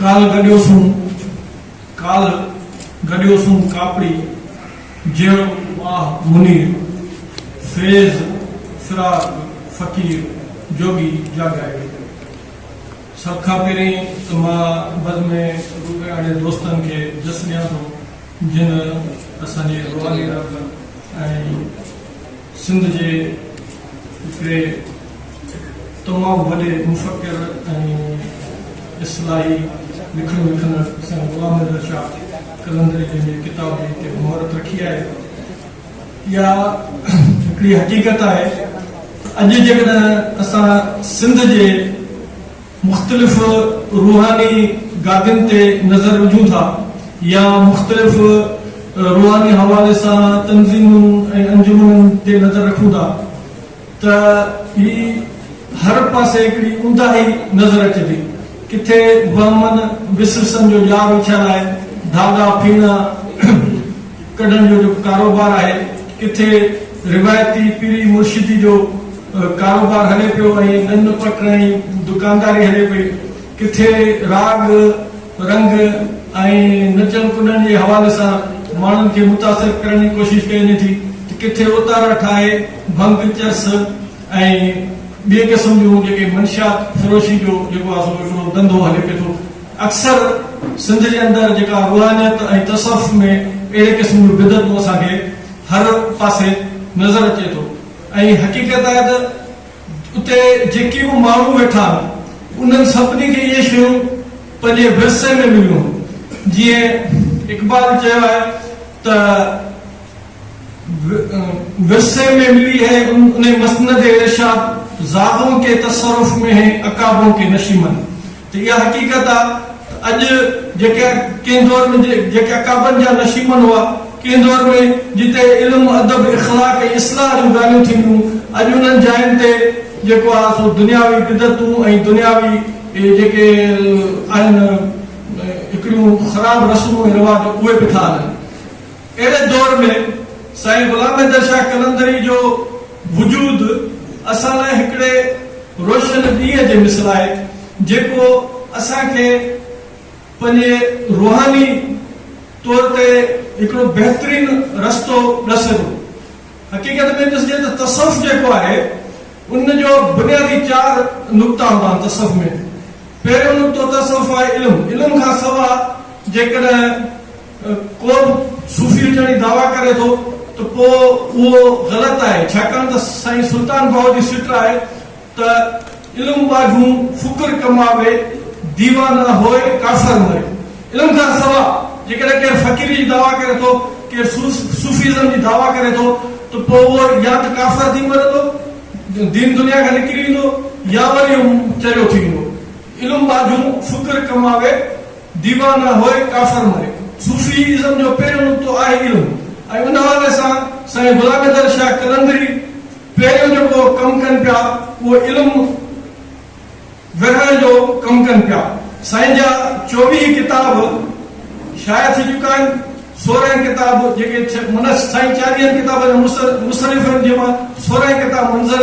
ڪالهه گڏيو سون ڪالهه گڏيو سون ڪاپڙي جهڙو ماهه منير فيض فراق فقير جوڳي جاڳائي ويندو. سڀ کان پهرين ته مان بز ۾ روڳي اهڙي دوستن کي جس ڏيان ٿو جن اسان جي روحاني رب ۽ سنڌ جي هڪڙي تمام وڏي مفڪر ۽ اصلاحي لکڻ لکندڙ سائين غلام نظر شاهه قلندري جن جي ڪتاب جي تي مهرت رکي آهي. اها هڪڙي حقيقت آهي ته اڄ جيڪڏهن اسان سنڌ جي مختلف روحاني گادين تي نظر وجهون ٿا يا مختلف روحاني حوالي سان تنظيمن ۽ انجمنن تي نظر رکون ٿا، ته هي هر پاسي هڪڙي اونداهي نظر اچي ٿي. ڪٿي وهمن وسوسن جو ڄار اڇل آهي، ڌاڳا ڦيڻا ڪڍڻ جو جيڪو ڪاروبار آهي، ڪٿي روايتي پيري مرشدي جو ڪاروبار هلي پيو ۽ ڏن پٽ ۽ دڪانداري هلي پئي، ڪٿي راڳ رنگ ۽ نچڻ ڪڏڻ جي حوالي سان ماڻهن کي متاثر ڪرڻ جي ڪوشش ڪئي وڃي ٿي ته ڪٿي اوتارا ٺاهي ڀنگ، چرس ۽ ٻي قسم جون جيڪي منشيات فروشي جو جيڪو آهي سو هڪڙو ڌنڌو هلي پئي ٿو. اڪثر سنڌ جي اندر جيڪا روحانيت ۽ تصوف ۾ اهڙي قسم جون بدعتون اسان کي هر پاسي نظر اچي ٿو ۽ حقيقت آهي ته اتي جيڪي به ماڻهو ويٺا انهن سڀني کي اهي شيون پنهنجي ورثي ۾ مليون. جيئن اقبال چيو آهي ته ورثي ۾ ملي هي انهي مسند ارشاد زادون ڪي تصرف ۾ هين عقابون ڪي نشيمن. ته اها حقيقت آ ته اڄ جيڪا ڪنهن دور ۾ جيڪا ڪعبن جا نشيمن هئا، ڪنهن دور ۾ جتي علم، ادب، اخلاق ۽ اصلاح جون ڳالهيون ٿينديون، اڄ انهن جاين تي جيڪو آ سو دنياوي بدعتون ۽ دنياوي جيڪي آهن هڪڙيون خراب رسمون ۽ رواج اهي به ٿا هلن. اهڙي دور ۾ سائين غلام حيدر شاهه قلندري جو وجود اسان لاء هڪڙي روشن ڏينهن جي مثل آهي، جيڪو اسان کي پنهنجي روحاني طور تي هڪڙو بهترين رستو ڏسي ٿو. حقيقت ۾ ڏسجي ته تصوف جيڪو آهي، ان جو بنيادي چار نقطا هوندا آهن تصوف ۾. پهريون نقطو تصوف آهي علم، علم کان سواء جيڪڏهن. ڪو به صوفي هجڻ جي دعويٰ ڪري ٿو ته پوء اهو غلط آهي، ڇاڪاڻ ته سائين سلطان باهو جي سٽ آهي ته علم ٻاجهون فڪر ڪماوي، ديوانه هوئي ڪافر مري. علم کان سواء جيڪڏهن ڪير فقيري جي دعويٰ ڪري ٿو، ڪير صوفيزم جي دعويٰ ڪري ٿو ته پوء اهو يا ته ڪافر ٿي مرندو، دين دنيا کان نڪري ويندو يا وري چريو ٿي ويندو. علم ٻاجهون فڪر ڪماوي، ديوانه هوء ڪافر ملڪ. صوفي ازم جو پهريون نقطو آهي علم ۽ ان حوالي سان سائين غلام حيدر شاهه قلندري پهريون جيڪو ڪم ڪن پيا اهو علم ورهائڻ جو ڪم ڪن پيا. سائين جا چوويهه ڪتاب شايع ٿي چڪا آهن. سورهن ڪتاب جيڪي سائين چاليهن ڪتابن جا مصنف آهن جنهن مان سورهن ڪتاب منظر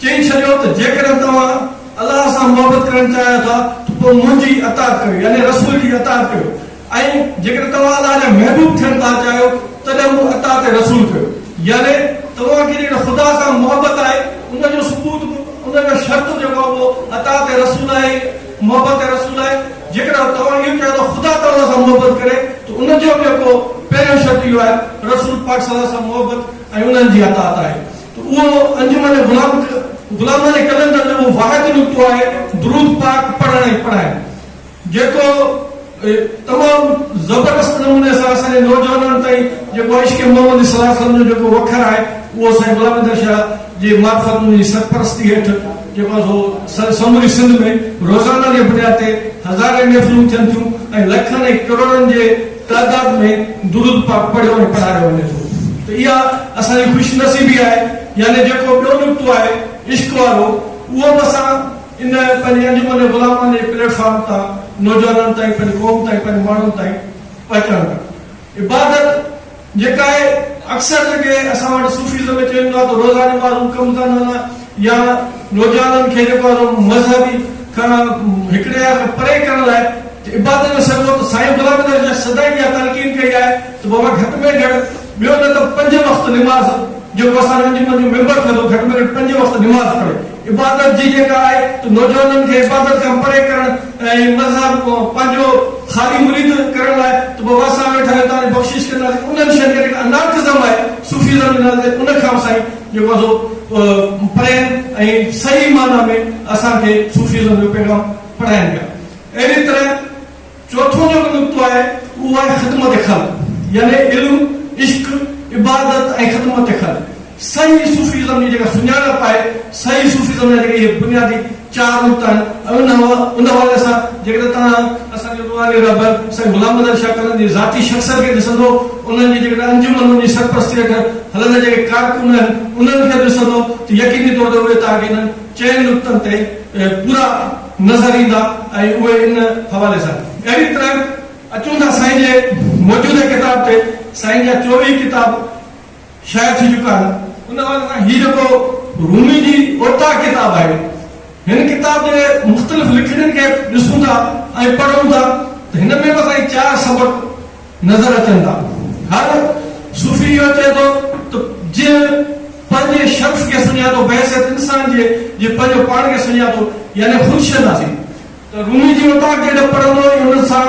چئي ڇڏيو ته جيڪڏهن توهان الله سان محبت ڪرڻ چاهيو ٿا ته پوء منهنجي اطاعت ڪريو يعني رسول جي اطاعت ڪريو ۽ جيڪڏهن توهان الله جا محبوب ٿيڻ ٿا چاهيو تڏهن به اطاعت رسول ڪريو يعني توهان کي جيڪڏهن خدا سان محبت آهي ان جو ثبوت به ان جو شرط جيڪو آهي اهو اطاعت رسول آهي محبت رسول آهي جيڪڏهن توهان اهو چاهيو ته خدا توهان سان محبت ڪري ته ان جو به جيڪو پهريون شرط اهو آهي رسول پاڪ صلي الله عليه وسلم سان محبت ۽ انهن جي اطاعت آهي. ته اهو انجمن غلام غلامانه قلندر جو اهو واحد نقطو آهي درود پاڪ پڙهڻ ۽ پڙهائڻ جيڪو تمام زبردست نموني سان اسان جي نوجوانن تائين جيڪو عشق محمد صلي الله عليه وسلم جو جيڪو وکر آهي اهو سائين غلام احمد شاهه جي معرفت ان جي سرپرستي هيٺ جيڪو آهي سو سموري سنڌ ۾ روزانه جي بنياد تي هزارين محفلون ٿين ٿيون ۽ لکن ۽ ڪروڙن جي تعداد ۾ درود پاڪ پڙهيو ۽ پڙهايو وڃي ٿو ته اها اسان جي خوش نصيبي آهي يعني جيڪو ٻيو نڪتو آهي عشق وارو اهو به اسان ان پنهنجي انجمن غلامان جي پليٽ فارم تان نوجوانن تائين پنهنجي قوم تائين پنهنجي ماڻهن تائين پهچائڻ ٿا عبادت جيڪا آهي اڪثر جيڪي اسان وٽ صوفيزم ۾ چئي ويندو آهي ته روزاني معلوم ڪم ڪرڻ يا نوجوانن کي جيڪو آهي سو مذهبي کان هڪڙي هنڌ کان پري ڪرڻ لاء عبادت جو سڏ هو ته سائين غلام نبي شاهه سدائين اها تلقين ڪئي آهي ته بابا گهٽ ۾ گهٽ ٻيو نه ته پنج وقت نماز جيڪو اسان جو انجمن جو ميمبر ٿيو اٿو گهٽ ۾ گهٽ پنج وقت نماز پڙهي عبادت جي جيڪا آهي ته نوجوانن کي عبادت کان پري ڪرڻ ۽ مذهب پنهنجو خالي مريد ڪرڻ لاء ته بابا اسان ويٺا آهيون توهان جي بخشش ڪنداسين انهن شين کي جيڪا انارڪزم آهي صوفيزم جي نالي تي ان کان به سائين جيڪو آهي سو پڙهين ۽ صحيح معنيٰ ۾ اسان کي صوفيزم جو پيغام پڙهائين پيا. اهڙيء طرح چوٿون جيڪو نقطو آهي، اهو آهي خدمت خلق يعني علم، عشق، عبادت ۽ خدمت خلق. صحيح صوفيزم جي جيڪا سڃاڻپ آهي، صحيح صوفيزم جا جيڪي اهي بنيادي چار نقطا آهن ۽ ان ان حوالي سان جيڪڏهن توهان اسان جي روحاني رهبر سائين غلام محمد شاهه ڪلن جي ذاتي شخصيت کي ڏسندو، انهن جي جيڪڏهن انجمنن جي سرپرستي هيٺ هلندڙ جيڪي ڪارڪن آهن انهن کي ڏسندو ته يقيني طور تي اهي توهان کي انهن چئن نقطن تي پورا نظر ايندا ۽ اهي ان حوالي سان اهڙي طرح اچون ٿا سائين جي موجوده ڪتاب تي سائين جا چوويهه ڪتاب شايع ٿي چڪا آهن، ان حوالي سان هي جيڪو رومي جي اوطاق ڪتاب آهي، هن ڪتاب جي مختلف لکڻين کي ڏسون ٿا ۽ پڙهون ٿا ته هن ۾ به اسان کي چار سبق نظر اچن ٿا. هر صوفي اهو چئي ٿو ته جنهن پنهنجي شخص کي سڃاتو بحيثيت انسان جي جنهن پنهنجو پاڻ کي سڃاتو يعني خودشناسي ته رومي جي اوطاق جڏهن پڙهندو ۽ ان سان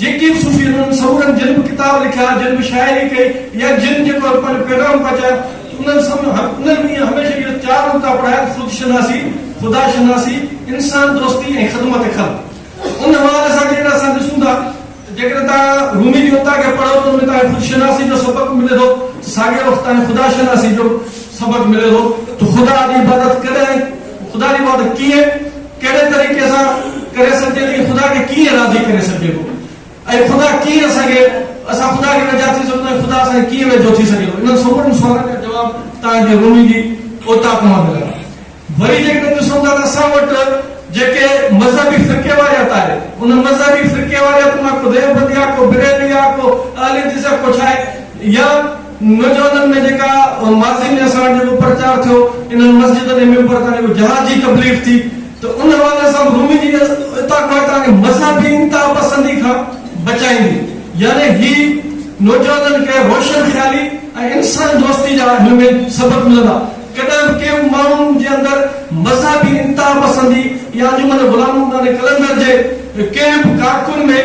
جيڪي به صوفي انهن سمورن جن به ڪتاب لکيا، جن به شاعري ڪئي يا جن جيڪو هڪ پنهنجو پيغام پهچايو ته انهن سڀ انهن به ائين هميشه اهي چار نقطا پڙهايا ته خود شناسي، خدا شناسي، انسان دوستي ۽ خدمت خلق. ان حوالي سان جيڪڏهن اسان ڏسون ٿا ته جيڪڏهن توهان رومي جي نقطا کي پڙهو ته ان ۾ توهان کي خود شناسي جو سبق ملي ٿو ته ساڳئي وقت توهان کي خدا شناسي جو به سبق ملي ٿو ته خدا جي عبادت ڪڏهن ۽ خدا جي عبادت ڪيئن ڪهڙي طريقي سان ڪري سگهجي ٿي، خدا کي ڪيئن راضي ڪري سگهجي ٿو ۽ خدا ڪيئن اسان کي اسان خدا کي ويجها ٿي سگهون ٿا ۽ خدا اسان کي ڪيئن ويجهو ٿي سگهي ٿو انهن سمورن سوالن جا جواب توهان کي رومي جي اوطاق مان ملندا. وري جيڪڏهن ڏسون ٿا ته اسان وٽ جيڪي مذهبي فرقي واريت آهي ان مذهبي فرقي واريت مان ڪو ديوبندي آهي ڪو بريلوي آهي ڪو اهل حديث آهي ڪو ڇا آهي يا نوجوانن ۾ جيڪا ماضي ۾ اسان وٽ جيڪو پرچار ٿيو انهن مسجدن ۽ ممبر تان جيڪو جهاد جي تبليغ ٿي ته ان حوالي سان به رومي جي عطا ڪوهي تان کي مذهبي انتها پسندي کان بچائيندي يعني هي نوجوانن کي روشن خيالي ۽ انسان دوستي جا هن ۾ سبق ملندا ڪڏهن به ڪنهن به ماڻهو جي اندر مذهبي انتها پسندي يا انجمن غلام محمد قلندر جي ڪنهن به ڪارڪن ۾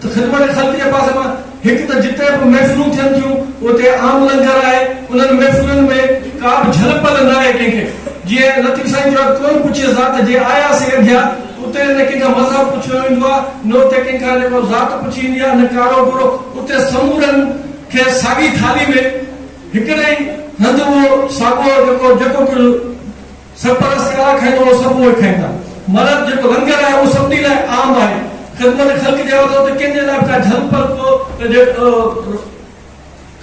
ته خدمت خلق جي پاسي مان هڪ ته جتي به محفلون ٿين ٿيون اتي عام لنگر آهي انهن محفلن ۾ ڪا به جهل پل نه آهي ڪنهن کي جيئن لطيف سائين چيو آهي ڪوئي پڇي ذات جي آيا سي اڌيا اتي نه ڪنهن کان مذهب پڇيو ويندو آهي نه اتي ڪنهن کان جيڪو ذات پڇي ويندي آهي نه ڪارو گورو اتي سمورن کي ساڳي ٿالهي ۾ هڪڙي ئي هنڌ اهو ساڳو جيڪو جيڪو ڪجهه سرپرست ڪراء کائيندو اهو سڀ اهي کائيندا. مرد جيڪو لنگر آهي اهو سڀني لاء عام آهي. خدمت خلق جي عهدو ته ڪنهن جي لاء به ڪا جهل پل ڪو ته جي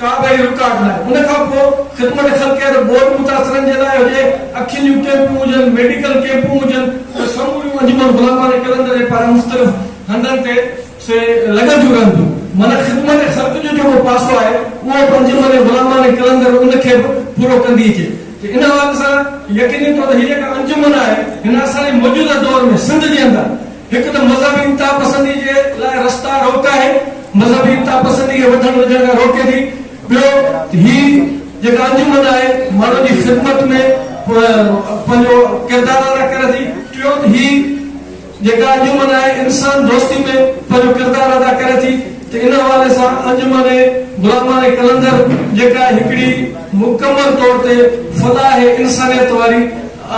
ڪا به اهڙي رڪاوٽ نه آهي. ان کان پوء خدمت خلق يا ته ٻوڏ متاثرن جي لاء هجي، اکين جون ڪيمپون هجن، ميڊيڪل ڪيمپون هجن ته سموريون انجمن غلامان ۽ قلندر جي پاران مختلف هنڌن تي سي لڳن ٿيون رهن ٿيون. معنيٰ خدمت خلق جو جيڪو پاسو آهي، اهو پنهنجي معني غلاماڻي قلندر ان کي به پورو ڪندي اچي ٿي. ان حوالي سان يقيني طور تي هي جيڪا انجمن آهي، هن اسان جي موجوده دور ۾ سنڌ جي اندر هڪ ته مذهبي انتها پسندي جي لاء رستا روڪ آهي، مذهبي انتها پسندي کي وڌڻ وجهڻ کان روڪي ٿي. ٻيو ته هي جيڪا انجمن آهي، ماڻهن جي خدمت ۾ پنهنجو ڪردار ادا ڪري ٿي. ٽيون ته هي. جيڪا انجمن آهي انسان دوستي ۾ پنهنجو ڪردار ادا ڪري ٿي ته ان حوالي سان انجمن غلامان قلندر جيڪا هڪڙي مڪمل طور تي فلاح انسانيت واري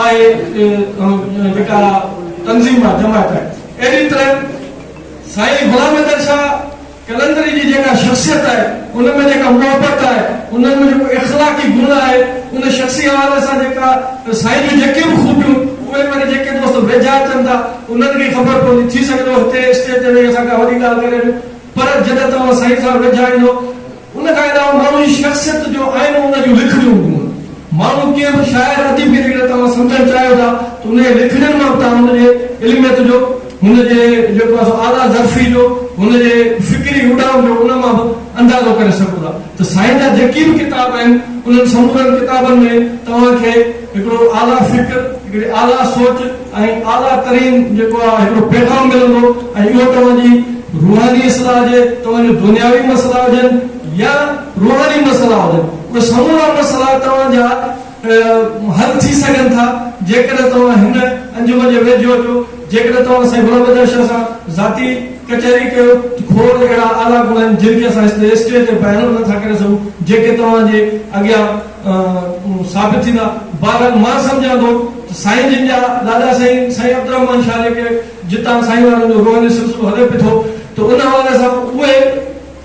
آهي جيڪا تنظيم آهي جماعت آهي اهڙي طرح سائين غلام حيدر شاهه قلندري جي جيڪا شخصيت آهي، ان ۾ جيڪا محبت آهي، انهن ۾ جيڪو اخلاقي گڻ آهي، ان شخصي حوالي سان جيڪا سائين جون جيڪي به خوبيون، اهي وري جيڪي دوست ويجها اچن ٿا، انهن کي ئي خبر پوندي. ٿي سگهي ٿو هتي اسٽيج تي ويهي اسان ڪا وڏي ڳالهه ڪري ڏيون، پر جڏهن توهان سائين سان ويجها ايندؤ، ان کان علاوه ماڻهو جي شخصيت جو آئينو ان جون لکڻيون هونديون آهن. ماڻهو ڪنهن به شاعر، اديب کي جيڪڏهن توهان سمجهڻ چاهيو ٿا، ته ان جي لکڻين مان به توهان ان جي علميت جو. هن جي جيڪو اسان اعليٰ ظرفي جو، هن جي فڪري اڏام جو ان مان به اندازو ڪري سگهون ٿا ته سائين جا جيڪي به ڪتاب آهن، انهن سمورن ڪتابن ۾ توهان کي هڪڙو اعليٰ فڪر، هڪڙي اعليٰ سوچ ۽ اعليٰ ترين جيڪو آهي هڪڙو پيغام ملندو ۽ اهو توهان جي روحاني اصلاح هجي، توهان جا دنياوي مسئلا هجن يا روحاني مسئلا هجن، اهي سمورا مسئلا توهان جا. حل ٿي سگهن ٿا جيڪڏهن توهان هن انجمن جي ويجهو اچو، جيڪڏهن توهان اسان جي غلام بدر شاهه سان ذاتي ڪچهري ڪيو ته کوڙ اهڙا اعليٰ گڻ آهن جن کي اسان اسٽيج تي بيان به نٿا ڪري سگهون جيڪي توهان جي اڳيان ثابت ٿيندا بهرحال مان سمجهان ٿو ته سائين جن جا ڏاڏا سائين سائين عبدالرحمان شاهه جيڪي جتان سائين وارن جو روحاني سلسلو هلي پئي ٿو ته ان حوالي سان اهي